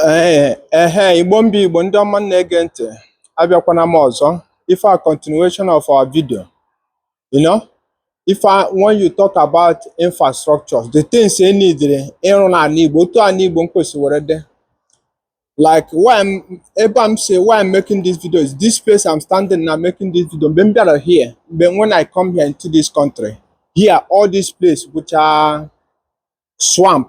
Ee, ehe, Igbo m bụ Igbo ndị ọma na-ege ntị, abịakwana m ọzọ. For continuation of our video. You know, if I, when you talk about infrastructure, the things e needere ịrụ n'ala Igbo, otu ala Igbo m kwesịwere dị. Like why I'm, ebe m sị why I'm making this video is this place I'm standing now making this video. Mgbe m bịara here, mgbe when I come here into this country, here all this place bụcha swamp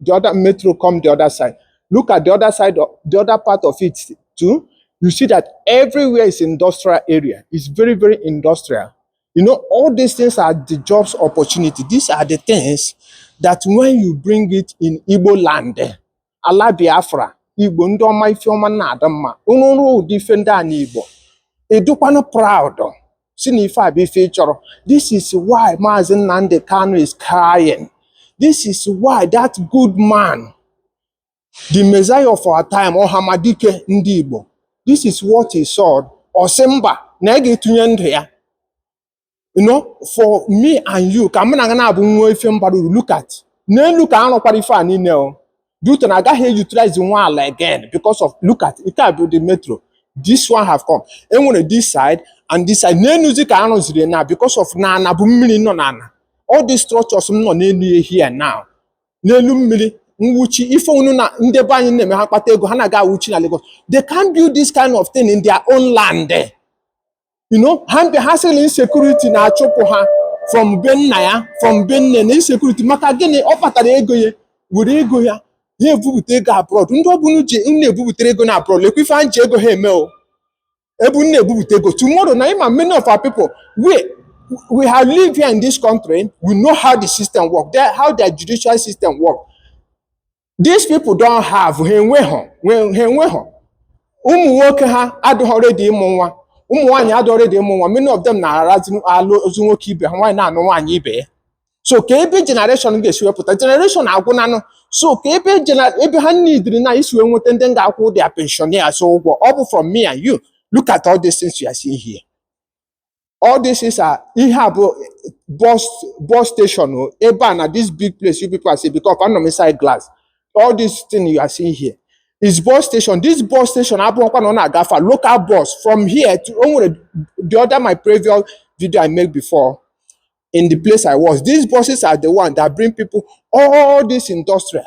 the other metro come the other side. Look at the other side, of, the other part of it too. You see that everywhere is industrial area. It's very, very industrial. You know, all these things are the jobs opportunity. These are the things that when you bring it in Igbo land, eh, ala Biafra, Igbo ndị ọma ife ọma na-adị mma. Unu rụọ ụdị ife ndị a n'Igbo. Ị dịkwanụ proud. sị na ife a bụ ife ị chọrọ this is why Maazị Nnamdi Kanu is crying this is why that good man the Messiah of our time Ọhamadike ndị Igbo this is what he saw ọ sị mba na ya ga-etinye ndụ ya you know for me and you ka mụ na gị naabọ nwee ife m bara uru look at n'elu ka a rụkwara ife a niile o due to na a gaghị utilize nwu ala again because of look at nke a bụ the metro this one have come e nwere this side and this side n'enuzi ka a rụziri na because of na ana bụ mmiri nọ n'ana all these structures m nọ n'elu ya here now n'elu mmiri mwuchi ife unu na ndị be anyị na-eme ha kpata ego ha na-aga awuchi na Lagos they can't build this kind of thing in their own land you know ha mbe ha sị na insecurity na-achụpụ ha from be nna ya from be nne na insecurity maka gịnị ọ kpatara ego ya were ego ya ha ebupụta ego abroad ndị ọ bụ unu na-ebupụtara ego na abroad lekwa ife anyị ji ego ha eme o ebe unu na-ebupụta ego tomorrow na ị ma many of our people we we have lived here in this country we know how the system work there, how their judicial system work these people don't have ha enweghọ nwe- ha enweghọ ụmụ nwoke ha adịghị ready ịmụ nwa ụmụ nwaanyị adịghị ready ịmụ nwa many of them na-arazi alụzi nwoke ibe ha nwaanyị na-anụ nwaanyị ibe ya so ka ebe generation ga-esi wee pụta generation agwụnanụ so ka ebe gena- ebe ha needịrị na isi wee nweta ndị ga-akwụ their pensioners ụgwọ ọ bụ from me and you look at all these things you are seeing here all these things are ihe a bụ bus bus station o ebe a na this big place you people are seeing because anọ m inside glass all this thing you are seeing here is bus station this bus station abụọkwa na ọ na-agafe local bus from here to o nwere the other my previous video I made before in the place I was these buses are the one that bring people all this industrial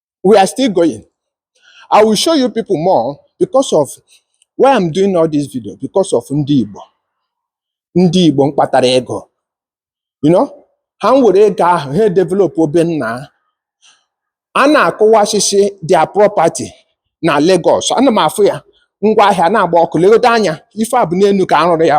we are still going. I will show you people more because of why I'm doing all this video because of ndị Igbo ndị Igbo mkpatara ego you know ha m were ego ahụ ha developuo be nna a na-akụwasịsị their property na Lagos ana m afụ ya ngwa ahịa na-agba ọkụ legodo anya ife a bụ n'elu ka a rụrụ ya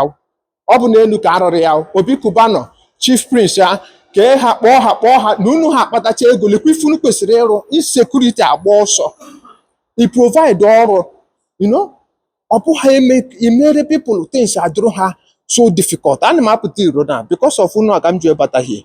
ọ bụ n'elu ka arụrụ ya obi Cubana chief prince ya ka ha kpọọ ha kpọọ ha na unu ha akpatacha ego lekwa ife unu kwesịrị ịrụ insecurity agba ọsọ i provide ọrụ you know ọ bụghị imere people things adụrụ ha so difficult ana m apụta iro na because of unu aga m ji ebata here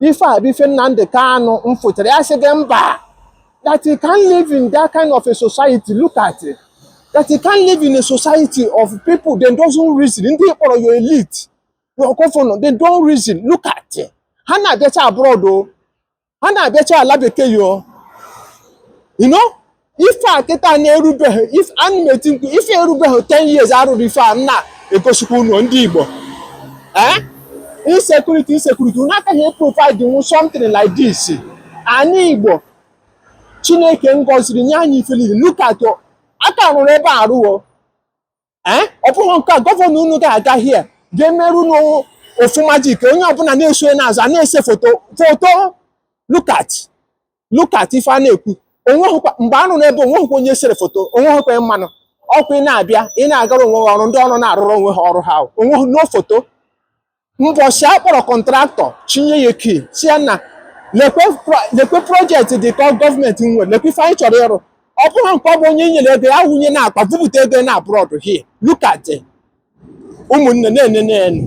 ife a bụ ife Nnamdi Kanu mfụtara ya sị gị mba that you can't live in that kind of a society look at it that you can't live in a society of people they doesn't reason ndị kpọrọ your elite your governor they don't reason look at it ha na-abịacha abroad o ha na-abịacha ala bekee yo you know ife a kịta na-erubeghị ife ana m eti mkpu ife erubeghị 10 years arụrụ ife a m na-egosikwa unu ndị Igbo eh insecurity insecurity unu akaghị eprovide nwu something like this anyị Igbo Chineke ngọziri nye anyị ife niile look at a ka rụrụ ebe a arụ o ee ọ bụghị nke a governor unu ga-aga here ga-emere unu ofu magic onye ọbụla na-eso n'azụ a na-ese foto foto look at look at ife a na-ekwu onweghịkwa mgbe a nọ n'ebe onweghịkwa onye sere foto onweghịkwa mmanụ ọkụ ị na-abịa ị na-agara onwe gị ọrụ ndị ọrụ na-arụrụ onwe ha ọrụ ha onweghị no foto mbọchị a kpọrọ contractor chinye ya key si ya na lekwe pro- lekwe project dị ka gọọmenti nwere lekwe ife anyị chọrọ ịrụ ọ bụghị nke ọ bụ onye e nyere ego ya wụnye n'akpa bupụta ego na abroad here look at it. ụmụnne na-ene na-ene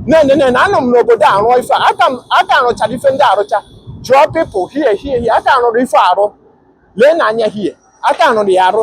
na-ene na-ene anọ m n'obodo a rụọ ife a. aka m- a ka rụchara ife ndị a arụcha jụọ people here here here a ka rụrụ ife a arụ lee n'anya here a ka rụrụ ya arụ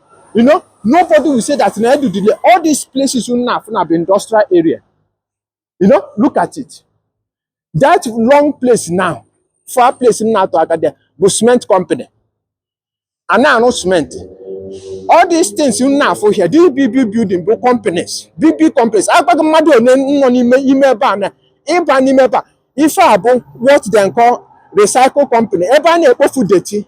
You know, nobody will say that na Edudile, all these places ị na-afụ bụ industrial area. You know, look at it. That long place now, far place m na-atụ aka, bụ cement company. A na-arụ cement. All these things ị na-afụ here, these big big building bụ companies, big big companies. Agbaghị mmadụ one nọ n'ime ime ebe a na ịba n'ime ebe a. Ife a bụ what they call recycle company. Ebe a na-ekpofu dirty.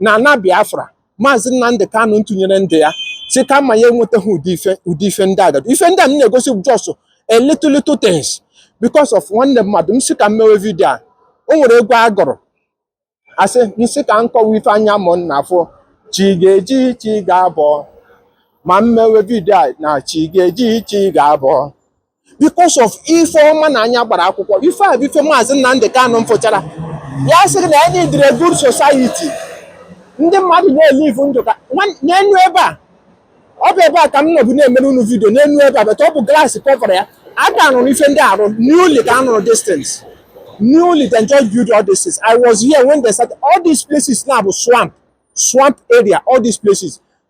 na ana Biafra maazị Nnamdị Kanụ ntụnyere ndị ya si kama ya enwetaghị ụdị ife ụdị ife ndị agadi ife ndị a m na-egosi just a little little things because of nwanne mmadụ m si ka m mewe vidio a o nwere egwu a gụrụ a sị m si ka m kọwa ife anya mụ na-afụ chi ga-eji chi ga-abọ ma m mewe vidio a na chi ga-eji chi ga-abọ because of ife ọma na anya gbara akwụkwọ ife a bụ ife maazị Nnamdị Kanụ mfụchara ya sị gị na a needịrị good society ndị mmadụ na-elivu ndụ ka n'enu ebe a ọ bụ ebe a ka m nọbụ na-emere unu vidio n'enu ebe a bata ọ bụ glass kọvara ya a ka rụrụ ife ndị a arụ newly ka a rụrụ these things newly they just build all these things. I was here when they started. All these places now bụ swamp, swamp area, all these places.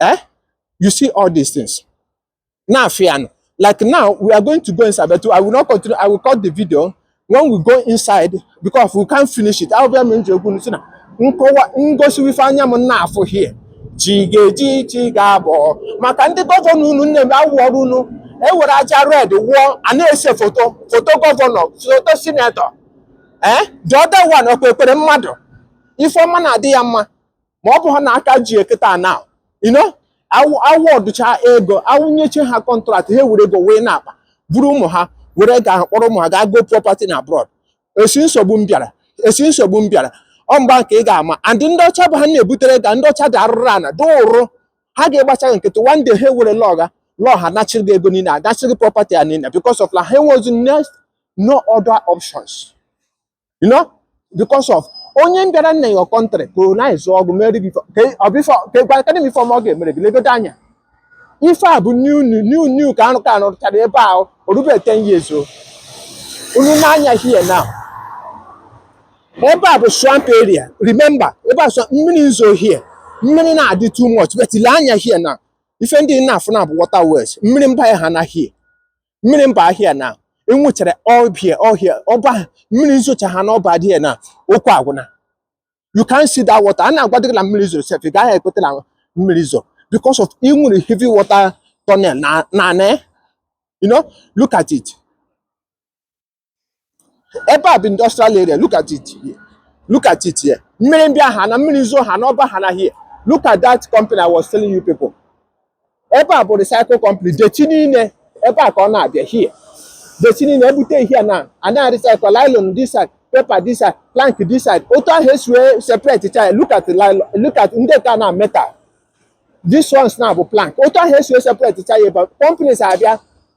Eh? You see all these things na-afụ now, like now, we are going to go inside, but I will not continue. I will cut the video when we go inside because we can't finish it. I'll be a man to go to nkọwa ngosi ife anya m na-afụ here chi ga-eji chi ga-abọ maka ndị gọvanọ unu nne m awụọrọ unu ewere aja red wụọ a na-ese foto foto gọvanọ foto sinetọ ee the other one ọkwa ekpere mmadụ ife ọma na-adị ya mma ma ọ bụ ha na aka ji eketa now you know awọdụcha ego awụnyeche ha kọntraktị ha were ego wee na-akpa buru ụmụ ha were ga kpọrọ ụmụ ha gaa go property na abroad esi nsogbu m bịara esi nsogbu m bịara ọ mgba nke ị ga-ama and ndị ọcha bụ ha na-ebutere ga ndị ọcha dị arụrụ ana dị ụrụ ha ga-egbacha gị nkịtị one day ha ewere local law ha nachiri gị ego niile anachiri gị property ya niile because of na ha enwezi no other options you know because of onye bịara na your country colonize-ụọ gị mere gị kedụ m ife ọma ọ ga-emere gị legodo anya ife a bụ new new new ka anụ ka anụ rụchara ebe a o rube 10 years o unu nee anya here now ebe a bụ swamp area remember ebe a mmiri nzo here mmiri na-adị too much but ile anya here now ife ndị na-afụ now bụ waterways mmiri mbịa ha na here mmiri mba here now enwechara all here all here ọba mmiri nzocha ha n'ọba here now okwu agwụna you can see that water a na-agwadị gị na mmiri zoro sef ị gaghị ekweta na mmiri zoro because of e nwere heavy water tunnel n'ana you know look at it ebe a bụ industrial area look at it here look at it here mmiri ndị ahụ na mmiri zoo ha n'ọba ha na here look at that company I was telling you people ebe a bụ recycle company deti niile ebe a ka ọ na-abịa here deti niile ebute here now a na-recycle nylon this side paper this side plank this side otu ahụ esi wee separate cha look at nylon look at ndị ka now metal this ones now bụ plank otu ahụ esi wee separate cha ya ebe companies abịa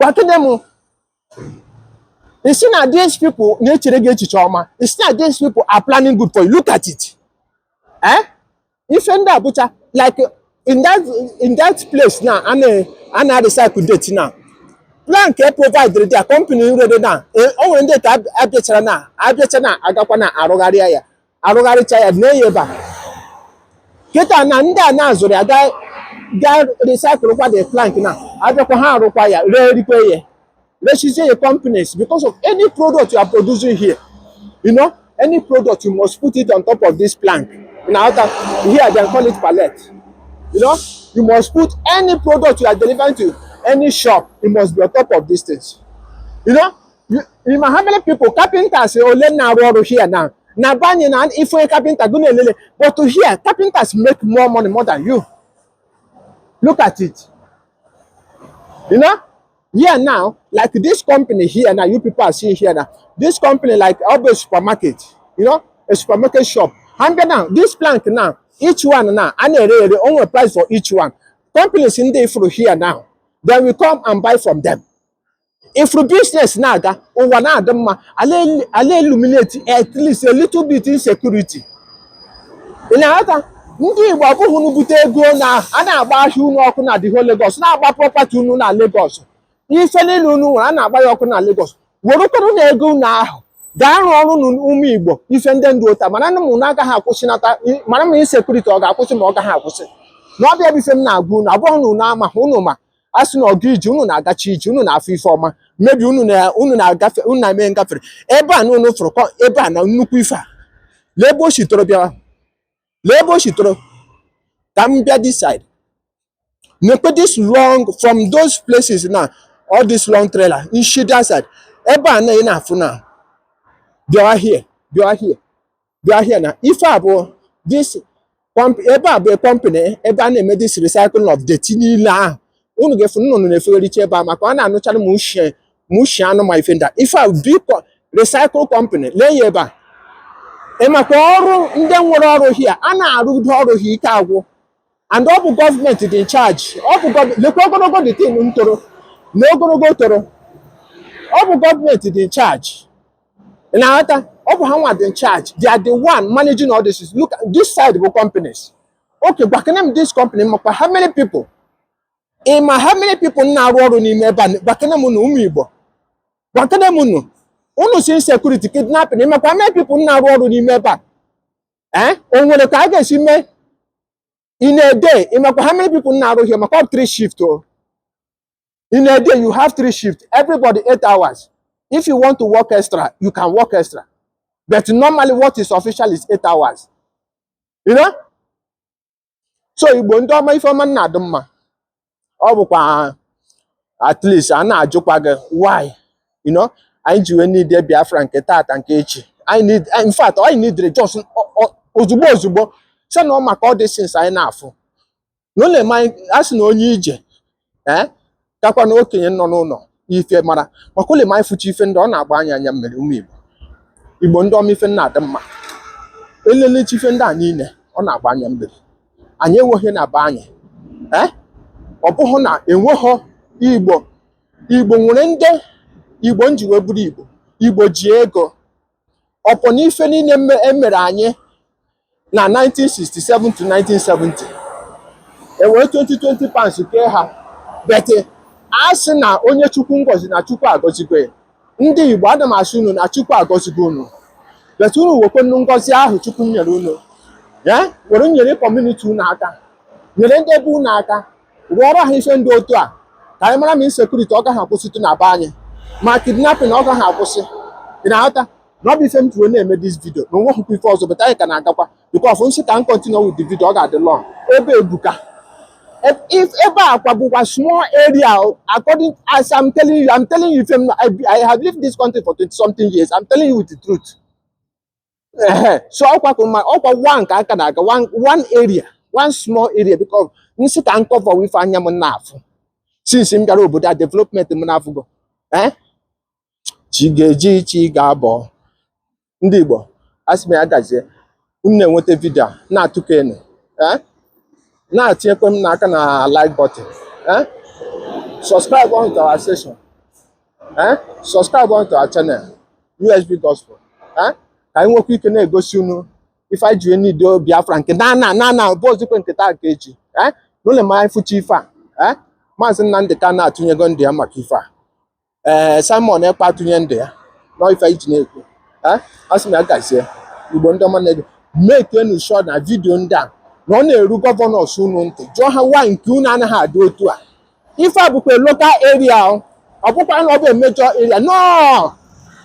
kwakide m ị sị na these people na-echere gị echiche ọma ị sị na these people are planning good for you look at it eh? ife ndị a bụcha like in that in that place now a na- a na-recycle deti now plan ka e providere their company already now e- o nwere ndị ka ab- abịachara na abịacha now agakwa na arụgharịa ya arụgharịcha ya na-eyi ebe a kịta na ndị a na-azụrụ ya gaa gaa recycle kwa the plank na abịakwa ha arụkwa ya ree rikwa ya rechizie your companies because of any product you are producing here you know any product you must put it on top of this plank na outer here dem call it pallet you know you must put any product you are delivering to any shop you must be on top of these things you know You, you know how many people carpenters ole na-arụ ọrụ here now na be anyị na ife onye carpenter gụ na-elele but to here carpenters make more money more than you look at it you know here now like this company here now you people are seeing here now this company like always supermarket you know a supermarket shop and then now this plank now each one now a na-ere ere onwe price for each one companies ndị ifuru here now then we come and buy from them ị fụrụ biznes na-aga ụwa na-adị mma a na-eliminate at least a little bit insecurity ị na-aghọta ndị Igbo ọ bụghị unu bute ego now a na-agba ahịa unu ọkụ na the whole Lagos na-agba prọpati unu na Lagos ife niile unu nwere a na-agba ya ọkụ na Lagos werekwanụ na ego unu ahụ gaa rụọrọnụ ụmụ Igbo ife ndị dị otu a maranụ ma ọ gaghị akwụsịnata mara ma insekuriti ọ ga-akwụsị ma ọ gaghị akwụsị na ọ bụ ya bụ ife m na-agwa unu ọ bụghị na unu ama unu ma a sị na ọgụ ije unu na-agachi ije unu na-afụ ife ọma mebi unu na unu na-agafe unu na-eme ngafere ebe a na unu fụrụ kọ ebe a na nnukwu ife a lee ebe o si toro bịawa lee ebe o si toro ka m bịa this side nekwa this long from those places na all this long trailer nshi that side ebe a na ị na-afụ na bịawa here bịawa here bịa here na ife a bụ this comp- ebe a bụ company ebe a na-eme this recycling of dirty niile ahụ unu ga-afụ nnụnụ na-efegharịcha ebe a maka ọ na-anụchara ma ushi anụ ma ife ndị a ife a bụ recycle company lee ya ebe a ị makwa ọrụ ndị nwere ọrụ here a na-arụdo ọrụ ha ike agwụ and ọ bụ gọọmenti dị in charge ọ bụ lekwa ogologo this thing ntoro na ogologo toro ọ bụ gọọmenti dị in charge na-aghọta ọ bụ ha nwa dị in charge they are the one managing all this look this side bụ companies okay gwakene m this company makwa how many people ị ma how many people na-arụ ọrụ n'ime ebe a gwakene m nụ ụmụ Igbo gwakene m nụ unu sị insecurity kidnapping makwa how many people na-arụ ọrụ n'ime ebe a ee o nwere ka a ga-esi mee in a day ịmakwa how many people na-arụ here makwa three shift o in a day you have three shift everybody eight hours if you want to work extra you can work extra but normally what is official is eight hours you know so igbo ndị ọma ife ọma na-adị mma ọ bụkwa at least a na-ajụkwa gị why you know anyị ji wee need biafra nke tata nke echi anyị need in fact anyị needre just o- o- ozugbo ozugbo sị na ọ maka all these things anyị na-afụ n'ụlọ ma a sị na onye ije ee eh? kakwa na okenye nọ n'ụlọ ife mara maka ụlọ ma ị fụcha ife ndị ọ na-agba anya anya mmiri ụmụ igbo igbo ndị ọma ife na-adị mma elelechi ife ndị a niile ọ na-agba anya mmiri anyị enweghị na be anyị ee eh? ọ bụghị na enweghị igbo igbo nwere ndị igbo nji wee bụrụ igbo igbo ji ego upon ife niile e mere anyị na 1967 to 1970 e were 20 20 pounds kee ha but a sị na onye chukwu ngọzi na chukwu agọzigwe ndị igbo ana m asị unu na chukwu agọzigwe unu but unu wekwenụ ngọzi ahụ chukwu nyere unu were nyere community unu aka nyere ndị ebe unu aka rụọrọ ha ife ndị otu a ka anyị mara ma insecurity ọ gaghị akwụsịtụ na be anyị ma kidnapping ọ gaghị akwụsị ị na-aghọta na ọ bụ ife m ji wee na-eme this video na o nwehụkwa ife ọzọ but anyị ka na-agakwa because nsị ka m continue with the video ọ ga-adị long ebe ebuka If, if ebe a kwa bụkwa small area according as I'm telling you, I'm telling you, if I'm, I, I have lived this country for 20 something years. I'm telling you with the truth. ehe so ọkwa ka ma ọkwa one ka a ka na-aga one one area one small area because m sị ka m cover ife anya m na-afụ since m bịara obodo a development m na-afụgo eh chi ga-eji chi ga-abọ ndị Igbo asị m ya gazie unu na-enweta vidio a na-atụkọ enu eh na-etinyekwe m nụ aka na like button eh subscribe on to our session eh? subscribe onto our channel USB Gospel eh? ka anyị nwekwa ike na-egosi unu ife anyị ji wee need Biafra nke na na na na bụ ozikwe nke taa nke echi eh? n'ụlọ ma anyị fụcha ife a eh? maazị Nnamdị Kanu atụnyego ndụ ya maka ife a ee eh, Simon Ekpa atụnye ndụ ya na ife anyị ji na-ekwu eh? a sị m ya gazie Igbo ndị ọma na-ege mekenu sure na vidio ndị a na ọ na-eru governors unu ntị jụọ ha why nke unu anaghị adị otu a ife a bụkwa local area ọ ọ bụkwa na ọ bụ a major area no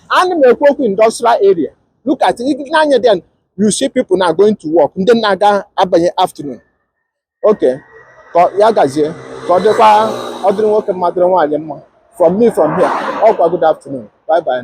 ana m ekwu okwu industrial area look at it n'anya then you see people na going to work ndị na-aga abanye afternoon okay ka ọ- ya gazie ka ọ dịkwa ọ dịrị nwoke mma dịrị nwaanyị mma from me from here ọ kwa good afternoon bye bye